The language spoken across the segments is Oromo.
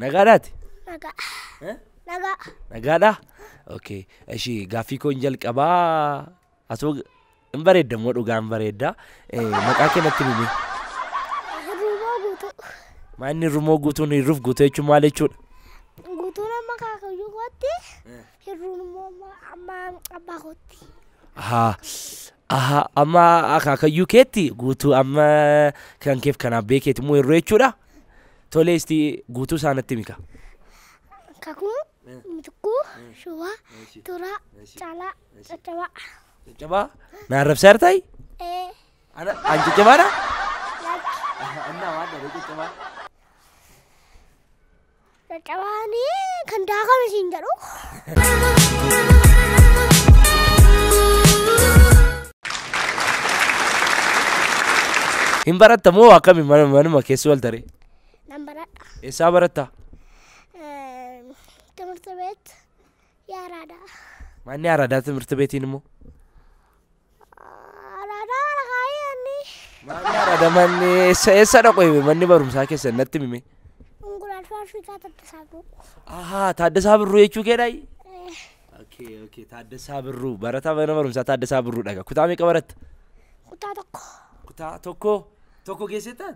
Nagaadhaati? Nagaa. Eh? Nagaa. Nagaadha? Okay. Ishii gaaffii koo hin jalqabaa. Asoo hin bareedda immoo dhugaa hin bareedda. Eh, Maqaa kee natti himi. Ruumoo guutuu. Maanni rumoo guutuun hirruuf guutuu jechuun maal jechuudha? Guutuun amma kaakayyuu kootti Hirruun immoo amma abbaa kootti. Ahaa. Ahaa. Amma akaakayyuu keetti guutuu amma kan keef kan abbee keeti immoo hirruu jechuudha. Tolee isti guutuu isaa natti mika. Kakuu, mitikkuu, shubaa, turaa, calaa, caccabaa. Caccabaa na arrabsaa jirtaayi? Ee, Ana an caccabaadha? laata. Annaa waan dhabee caccabaa. Caccabaanii kan daakame siin jedhu. Hin baratta moo akkami mana manuma keessa wal taree? Nan baradha. Eessaa baratta? Eh, Timirti beet yaaraadha. Manni aradaa timirti beetiin immoo? Araadaan mana kaayee anni. Maamni araada manni eessa eessa dhaqu hime manni barumsaa keessan natti himime. Unguraan faarfiikaa tattasaa buu. Ahaa Taaddasaa Birruu jechuu keedhaayi. Okay okay Taaddasaa Birruu barataa mana barumsaa Taaddasaa Birruu dhaga kutaa meeqa baratta? Kutaa tokko. Kutaa tokko tokko geesseettaan?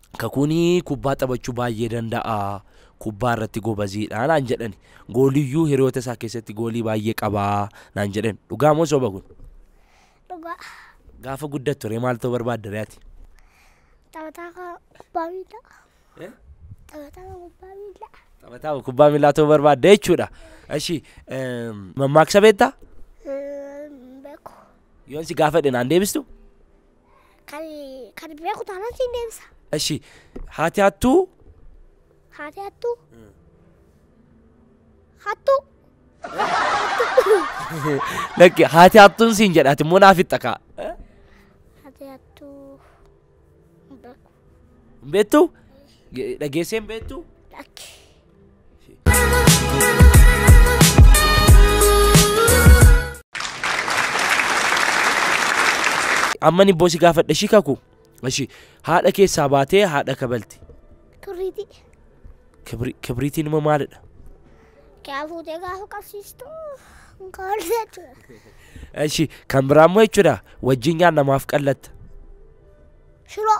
Kakuun kubbaa taphachuu baay'ee danda'a, kubbaa irratti gobaziidha naan jedhani. Gooliyyuu hiriyoota isaa keessatti goolii baay'ee qaba naan jedhan. Dhugaa moo soba kun? Dhugaa. Gaafa guddattu ree maal ta'uu barbaadda ree ati? Taphataa kan kubbaa miilaa. Taphataa kan kubbaa miilaa. Taphataa kubbaa miilaa ta'uu barbaadda jechuudha. Eshi mammaaksa beektaa? Beeku. Yoon si gaafadhe naan deebistu? Kan kan beeku taanaan siin deebisa. Eshi haati hattuu Haati hattuu. Hattuu. lakki haati hattuun siin jedha ati immoo naaf itti kaa. Haati hattuu. Hin beeku. Hin beektu? Ge- Dhageessee hin beektu? Lakki. Amma ni boosi gaafadha ishii kaku. Ishii haadha keessaa baatee haadha kabalti. Turriitii. Kibri- Kibriitiin immoo maalidha? Kaa fuutee gaafa qabsiistu hin kaa'u jechuudha. Ishii kan biraa immoo jechuudha wajjin nyaannamaaf qallatta. Shiroo.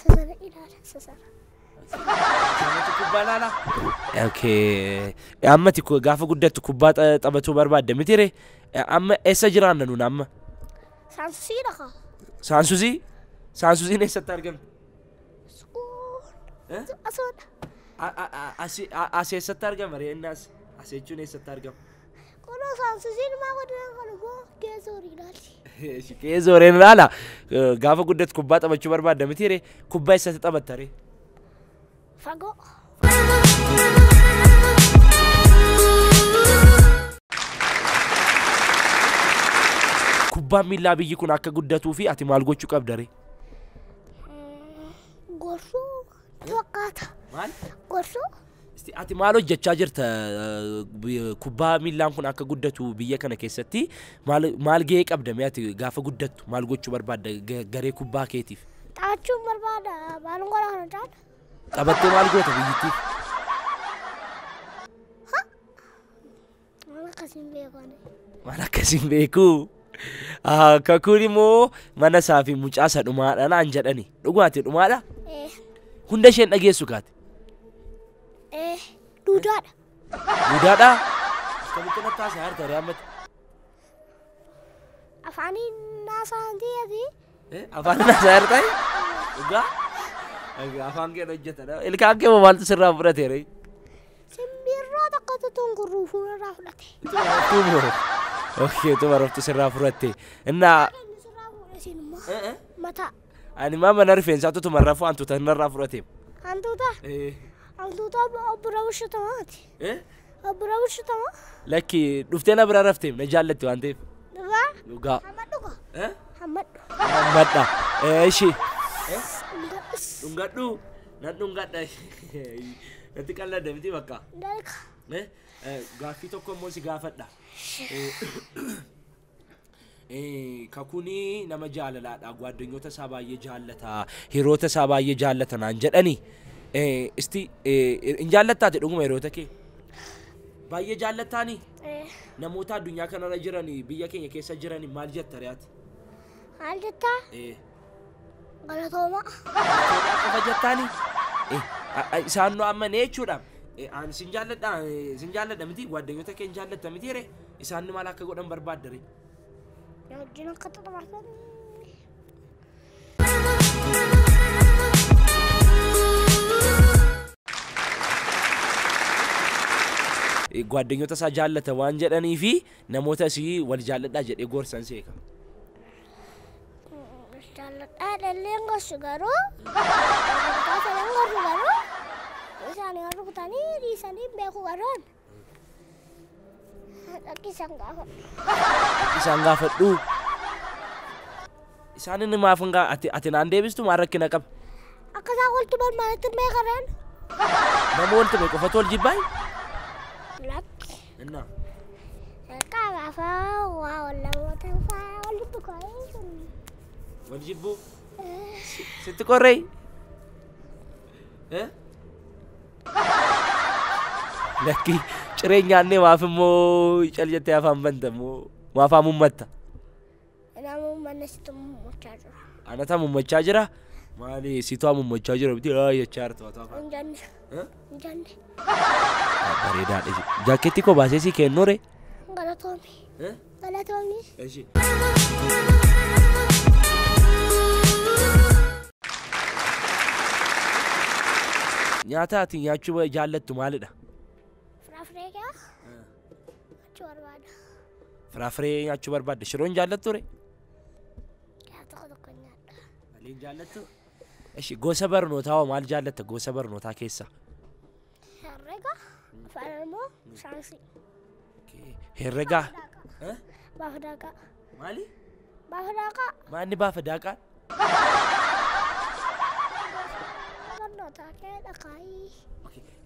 Sasana ilaala sasana. Sirnatti kubbaa ilaala. Okay. Ammati ku- gaafa guddattu kubbaa ta- taphatuu barbaadda mitire. Amma eessa jiraanna nuun amma? Saansusii dhaqa. Saansusii? Saansusiin eessatti argamti? Suun. Eh? Asoodha. A- a- a- asi- a- As eessatti argama reennaas? As jechuun eessatti argama? Qono saamsisiin maa godina kana moo geessoo riinaati. Kee zooreen ilaala. Gaafa guddatu kubbaa taphachuu barbaadda miti ree? Kubbaa eessatti taphatta ree? Fagoo. Kubbaan miillaa biyyi kun akka guddatuu fi ati maal gochuu qabda ree? Gorsuu fakkaata. Maal? Gorsuu Isti ati maal hojjechaa jirta kubbaa miillaan kun akka guddatu biyya kana keessatti maal maal gahee qabda mee ati gaafa guddattu maal gochuu barbaadda ga- garee kubbaa keetiif Xaachuun barbaada maalin godha kana caala. taphattee maal goota biyyittiif Waan akkas hin beeku ani. Waan akkas hin beeku. Ah, Kakuun immoo mana isaa fi mucaa isa dhumaadha naan jedhani. Dhugaati dhumaadha. Ee, Hunda isheen dhageessu kaati. ee, duudaadha. Duudaadha. Akkamitti natti haasaa harta ree ammatti. Afaaniin naasaa hin ta'eefi. Eh, Afaan irraa isaa hir'ate. Dhugaa. Egaa Afaan kee hojjetadha. Ilkaan kee moo maaltu sirraa fudhate ree? Simbirroo tokkotu tungurruu fuularraa fudhate. Tumo. Okkee tuma raftu sirraa fudhatte. Innaa Inni sirraa fuudhe isin immoo Eh, eh. mataa ani maa mana rifeensaatu tuma rafuu hantuuta narraa fudhate. hantuuta hantuuta obbo Rawushatawaati. Abbura bulchitama. Lakki dhuftee na bira rafteef na jaallatti waan ta'eef. Dhugaa. Dhugaa. Hammadhu ko. Hammadhu. Hammadha. Eeshi. Dhungadhu. Nan dhungadha. Natti qalladda miti bakka. Dalka. Gaaffii tokko immoo si gaafadha. Kakuun nama jaalalaadha. Gwaaddanyoota isaa baay'ee jaallata. Hiriyoota isaa baay'ee jaallata naan jedhani. Isti hin jaallattaati dhuguma hiriyoota kee? Baay'ee jaallattaani? Namoota addunyaa kanarra jiran biyya keenya keessa jiran maal jetta re'aati? Maal jettaa? Galatoomaa. Galatoomaa qofa jettaani. Eh, a- a- Isaan nu amma nee jechuudha. Eh, Ani sin jaalladha, eh, sin jaalladha miti, waaddanyoota kee hin jaallatta miti ree. Isaan nu maal akka godhan barbaadda ree. Na wajjin akka xaxamartan. Eh, Waaddanyoota isaa jaallata waan jedhanii fi namoota isii wal jaalladhaa jedhee gorsan seeka. Jaalladhaa dhalleen gorsu garuu. Jaalladhaa sanan gorsu garuu. Isaanii warri kutanii dhiisanii hin beeku garoon. Dhaqi isaan gaafadhu. Isaan gaafadhu. Isaan inni maaf hin gaa- ati ati naan deebistu maal rakkina qaba? Akka isaan wal tuman maalitti hin beekareen? Nama wal tume qofatu wal jibbaayi? Lakki. Innaa. Jalqaba afaan waa ol namoota faa walitti qoree sun. Wal jibbuu. Sitti qorree. Eh? Lakki ciree nyaannee maaf immoo cal jettee afaan banta immoo maaf haamummatta. Namuu manna situ mummachaa jira. Anata mummachaa jira. Maali situ mummachaa jira biti haa jechaa jirtu haa ta'a. Hin janne. Eh? Hin janne. Bareedaadha. Jaakkeetti koo baasee sii kennure. Galatoomi. Eh? Galatoomi. Eshi. Nyaata ati nyaachuu jaallattu maalidha? Firaafiree gaa. Nyaachuu barbaada. Firaafiree nyaachuu barbaadda. Shiroo hin jaallattu ree? Yaa tokko tokko nyaadha. Malee hin jaallattu? Ishi gosa barnootaa hoo maal jaallatta gosa barnootaa keessaa? Herrega, afaan Oromoo, saayinsii. Herregaa. Baaf daaqaa. Maali? Baafa daaqaa. Maanni baafa daaqaa? Barnootaa kee dhaqaayii.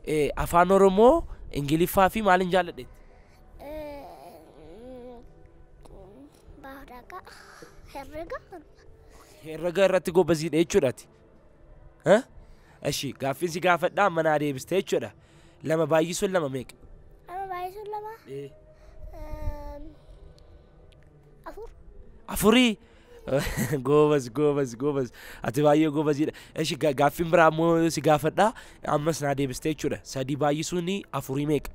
Eh, Afaan Oromoo, Ingiliffaa fi maaliin jaalladheetti? Baafa daaqaa. Herrega. Herrega irratti gobaziidha jechuudhaati. Eh? Eshi, gaaffiin si gaafadhaa amma naa deebiste jechuudha. Lama baay'isuun lama meeqa? Lama baay'isuun lama. Eh. Afur. Afurii. Goobas goobas goobas ati baay'ee goobaziidha. Eshi ga- gaaffiin biraa ammoo si gaafadha ammas naa deebistee jechuudha. Sadii baay'isuun afurii meeqa?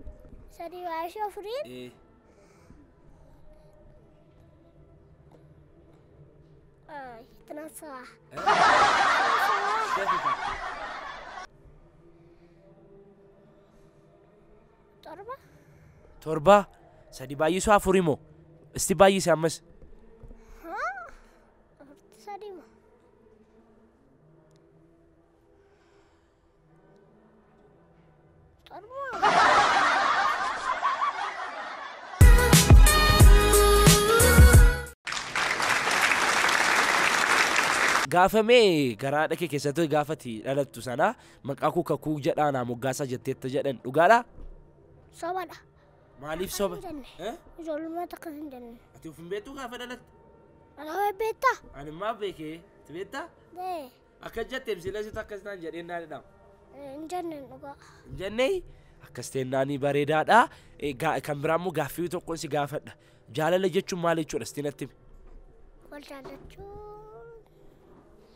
Sadii baay'isuu afuriin. Ay, itti naan sa'a. Torba. Torba. Sadi baay'isuu afuri moo? Isti baay'ise ammas. Haa. Afurti sadi moo? Torba. Gaafamee garaadha kee keessattuu gaafati dhalattu sana Maqaa koo kakuu jedhaa naa moggaasaa jetteetta jedhan dhugaadha? Sobadha. Maaliif soba? Hin jenne. Eh? Ijoollummaa takka hin jenne. Ati of hin beektuu gaafa dhalatte? Anaa beektaa? Ani maa beekee? Ati beektaa? Dee. Akka jetteem sila situ akkas naan jedheen naan jedhama. Hin jenne dhugaa. Hin jennee? Akkas ta'e naanii bareedaadha. Eh, gaa- Kan biraa immoo gaaffii tokkoon si gaafadha. Jaalala jechuun maal jechuudha sitti natti himi? Wal jaallachuun.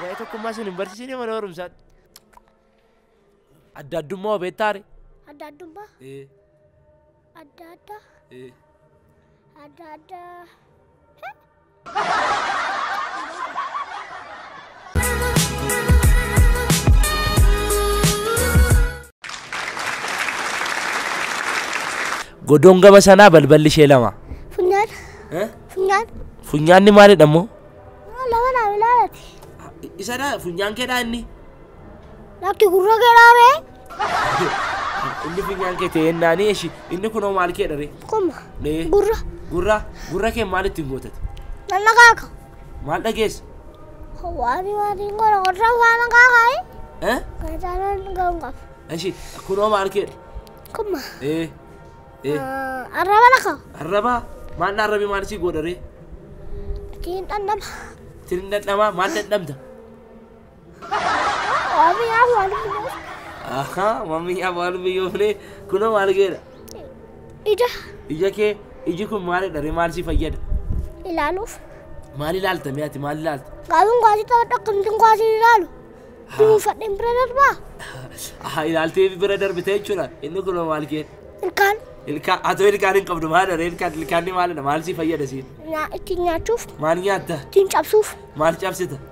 Waa'ee tokkummaa isin hin barsiisine mana barumsaatti. Adda addummaa hoo beektaare? Adda addummaa Ee, adda addaa ee. adda addaa. Godoon gama sanaa balballi ishee lama. Funyaan. Funyaan. Funyaanni maalidha immoo? Lama naaf ilaalati. Isadha funyaan keedhaa inni. Lakki gurra keedhaa bee. Inni funyaan kee ta'e naanii eshi inni kunoo maal keedha ree? Kuma. Gurra. Gurra gurra kee maal ittiin gootati? Nanna kaaka. Maal dhageesse? Waari waari ngoro ngoro waan gaagai. Eh? Gajaran gangaf. Eshi kunoo maal keedha? Kuma. Eh. Eh. Arraba laka. Arraba maal arrabi maal si godha ree? Tiin dhandhama. Tiin dhandhama maal dhandhamta? Wabiyaa walbiyoo. Ahaa mammiyaa waalbiyyoo filee kunoo maal geedha? Ija Ija kee iji kun maalidha ree maal si fayyada? ilaaluuf. Maal ilaalta mee ati maal ilaalta? Gaaluun gaasii taphadha akkamittiin gaasii ilaalu. Dunuunfadheen bira darbaa. Ahaa ilaaltee bira darbite jechuudha inni kunoo maal kee? Ilkaan Ilkaan atoo ilkaan hin qabdu maal dha ilkaan ilkaan ni maalidha maal si fayyada siin? nyaa ittiin nyaachuuf Maal nyaatta? ittiin cabsuuf Maal cabsita?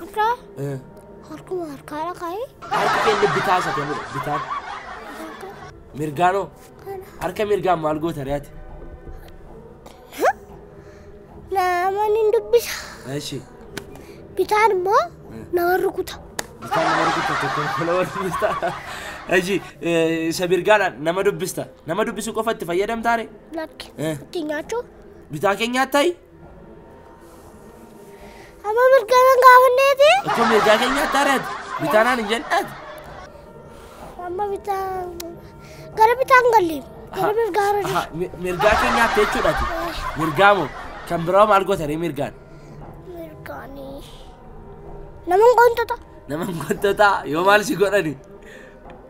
Harkaa Eh, harkuma harkaadha kaa'ee Harka keenya bitaa isa kennudha. Bitaan. Mirgaanoo. kana Harka mirgaan maal goota re'ati? namoonni hin dubbisa. Eshi. Bitaan immoo nama rukuta. Bitaan nama rukuta tokko nama dubbista. Eshi isa mirgaadhaan nama dubbista. Nama dubbisuu qofa itti fayyadamtaare? Lakki Eh. ittiin nyaachuu Bitaa keenyaa ta'i. Amma mirgaa nan gaafanneeti. Akka mirgaa keenyaatti ari'ate. Bitaanaan hin jedhaati. Amma bitaan gara bitaan galli. Gara mirgaa irra Aha, mi- Mirgaa keenyaatti jechuudha. ati. Mirgaa moo kan biraa maal gootanii mirgaan? mirgaanii. Naman qontota. Nama gottota yoo maal si godhani?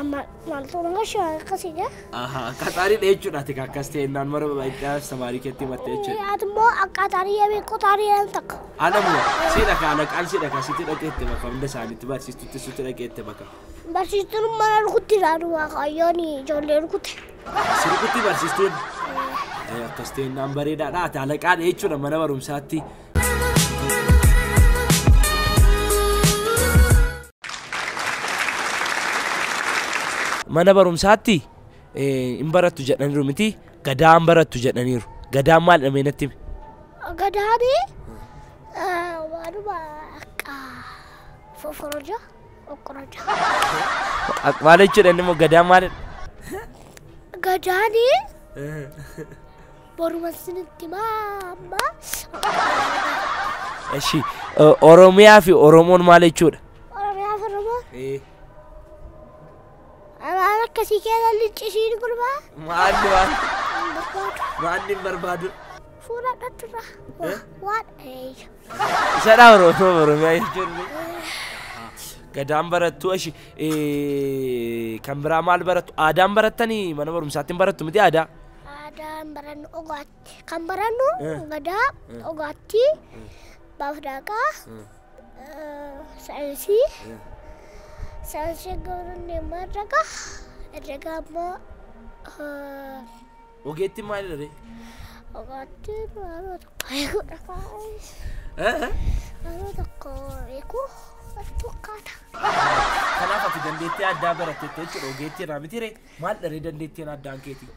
Amma maaltu immoo shawaa akkasii jira? Ahaa, akka xaariidha jechuudha ati ka akkas ta'e naan mara itti aansa maarii keetti himatte jechuudha. Ati immoo akka tarii yemii qotaanii jedhan takka. Adamu, siidha ka alaqaan siidha ka sitti dhaqeette bakka hunda isaaniitti barsiistutti sitti dhaqeette bakka. Barsiistuun mana rukutti ilaadu waaqayyoon ijoollee rukutte. Sirbitti barsiistuun eh, akkas ta'e naan bareedaadha ati alaqaadha jechuudha mana barumsaatti. Mana barumsaatti hin barattu jedhaniiru miti gadaan barattu jedhaniiru. Gadaan maalidha mee natti himi? Gadaani waanuma akka foforoja okkoroja. Ak- Maal jechuudha inni immoo gadaan maalidha? Gadaani Boruman sinitti maamma. Eshi Oromiyaa fi Oromoon maal jechuudha? Oromiyaa fi Oromoo. Amaan akkasii keessa lincisiin gurbaa. Maalli waan maalli hin barbaadu? Fuula dhattudha. Waan eeyya. Isadha Oromoo Oromiyaa jechuun. Gadaan barattu eshi kan biraa maal barattu? Aadaan barattanii mana barumsaatti hin barattu miti aadaa? Aadaan barannu ogaatti. Kan barannu Eh. gadaa, Eh. ogaatti, Eh. baaf daaqaa, Eh. eh, saayinsii. Eh. Saayinsii garuu deemaa herrega. Herrega ammoo eh, Ogeetti maali dha ree? ogaatti naannoo tokko eeguudha kaa'ee. Eh? Naannoo tokko eeguu bakka tokkaata. Kanaaf ati dandeettii addaa baratte jechuudha ogeetti irraa miti ree? Maal dharee dandeettiin addaan keetii?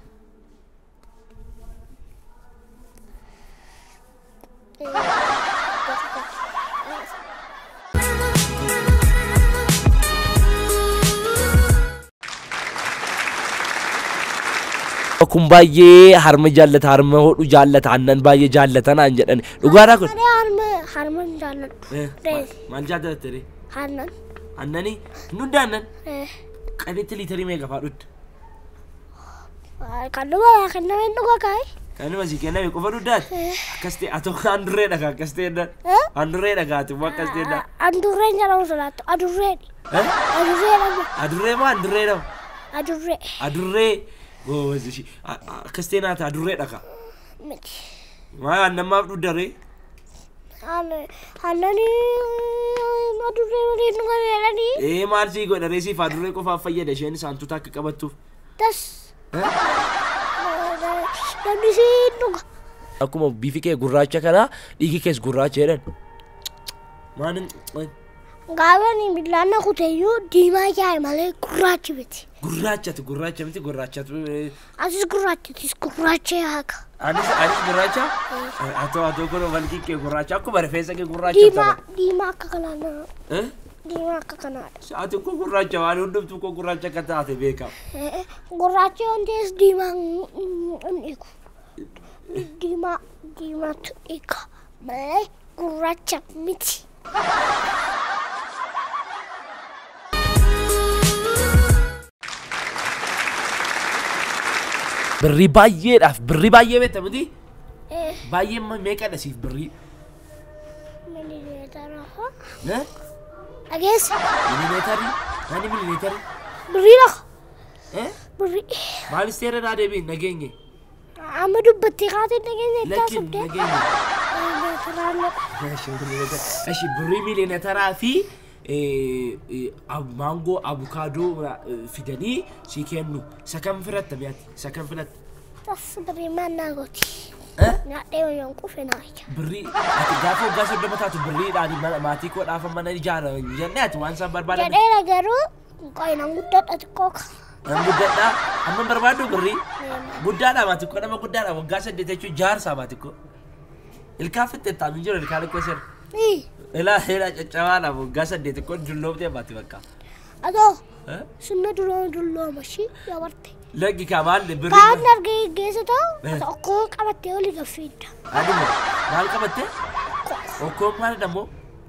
kun baay'ee harma jaallata harma hodhu jaallata aannan baay'ee jaallata naan jedhan dhugaadhaa kun Ani harma harman jaalladhu. Rees maal jaallata ture aannan. aannanii hundda aannan Eh. Qaditti liitarii meeqa fa'aa dhugda? Kan dhuma yaa kenname hin dhuga kaa'e. Kan dhuma si kenname qofa dhugdaati? Akkas ta'e atoo kan handurree dhagaa akkas ta'e dha. Handurree dhagaati immoo akkas ta'e dha. Handurree hin jedhamu sodaattu. Adurree. Adurree jedhamu. Adurree moo handurree jedhamu? Adurree. Adurree goobazi ishii akkas ta'e naata adurree dhagaa. Miti. Maa annammaaf dhugdaree? Hallani adurree waliin nu gabeelani. Ee maal sii godha ree siif adurree qofaaf fayyada isheen saantuta akka qabattuuf. Das. Namni siin dhuga. Akkuma bifi kee gurraacha kanaa dhiigi kees gurraacha jedhan. Maalin Gaafani billaan na kuteyyuu diimaa jaa'e malee gurraachi miti. gurraachatu gurraacha miti gurraachatu Atis gurraacha atis gurraacha yaaka. Anis anis gurraacha. Atoo atoo kun walgii kee gurraacha akkuma rifeensa kee gurraacha Diimaa ta'e. diimaa akka kanaa nama. Eh? Diimaa akka kanaadha. Ati kun gurraacha waan hundumtuu kun gurraacha akka taate beekama. Eh, Gurraachi waan ta'es diimaa hin dhiigu. Diimaa diimaatu dhiiga malee gurraacha miti. Birrii baay'eedhaaf birrii baay'ee beekta miti? Eh, Baay'ee immoo meeqadha siif birrii? milimeetara hoo? Eh? Dhageessa. Milimeetarri? Ani milimeetarri? Birrii lafa. Eh? Birrii. Maal isteera naa deebiin nageenye? Amma dubbattee kaatee nageenya itti Lakki haasofte. nageenya. Ashi birrii miiliyoona taraa fi eh, eh, ab- maangoo abukaadoo eh, fidanii si kennu. Isa kam filatta mi'ati? Isa kam filatta? Tas birrii maannaa gooti. Eh? Nyaadhee wayyoon qufe naa ija. Birrii ati gaafa waggaa soddoma taatu birriidhaan mana- maatii koo dhaafa mana ijaara jennee ati waan isaan barbaadan Jedheera garuu Quqayi nan guddadha xiqqoo ka. Nan guddadha. Amma barbaaddu birrii. Guddaadha maati koo nama guddaadha waggaa saddeet jechuun jaarsaa maati koo. Ilkaan fixxeettaa hin jiru ilkaan koo sirri. Ii. Ilaa ilaa caccabaadha waggaa saddeet koo dulloomtee maati bakka. Atoo Eh? sunna dulooma dullooma shi dabarte. Laggi kaa maal Kaan birrii. argee geessa ta'u Eh. ati okkoo qabattee oli gaffiidda. Aduma maal qabattee? Okkoo maal dhammoo?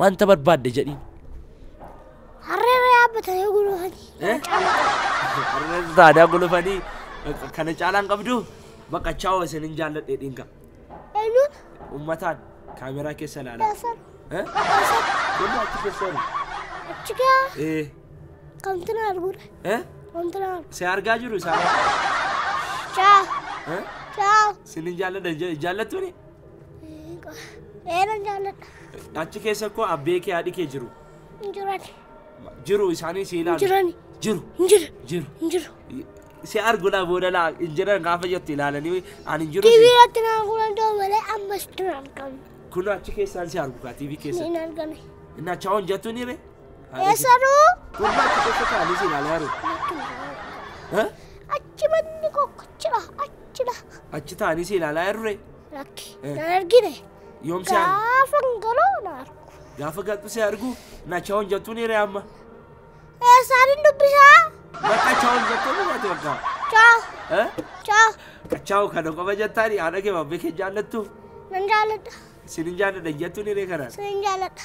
Wanta barbaadde jedhiin. Harreerra yaabbatanii gulufanii. Harreerra taadaa gulufanii kana caalaan qabdu bakka chaawoo isin hin jaalladhe dhiinka. Eenyuun? Ummataan kaameraa keessa ilaalaa. Eessan? Wanni achi keessa jiru. Achi gaa Ee. kamtu na arguudha. Eh? Kamtu na argu. Si argaa jiru isaan. Chaa. Eh? Chaa. Isin hin jaalladhe jaallattuuni? Dheeran jaalladha. Achi keessa koo abbee kee haadhi kee jiru. Hin jirani. Jiru isaanii si ilaalu. Jirani. Jiru. Hin jiru. Jiru. Hin jiru. Si arguudha booda laa hin jiran gaafa jettu ilaalanii an hin jiru. Tiivii irratti naa kunan ta'u malee ammas dura argamu. Kun achi keessaan si argu kaa tiivii keessa. Hin argame. Inni achi hawwan jettu ni ree. Eessaduu? Kun achi keessa taa'anii si ilaalaa jiru. Lakki. Jibanni koo achidha, achidha. Achi taa'anii si ilaalaa jiru ree? Lakki, Eh. na argine. Yoom si argu? Gaafa hin galoo na argu. Gaafa galtu si argu nacha hon jettuun hiree amma. Eessaan hin dubbisaa? Bakka cha hon jettuun hubate bakka. Chaa, Eh? chaa, Kachaa'u kana qofa jettaani haadha kee babbee kee jaallattu. nan jaalladha, Sin hin jaalladha jettuun hiree kanaan. sin jaalladha.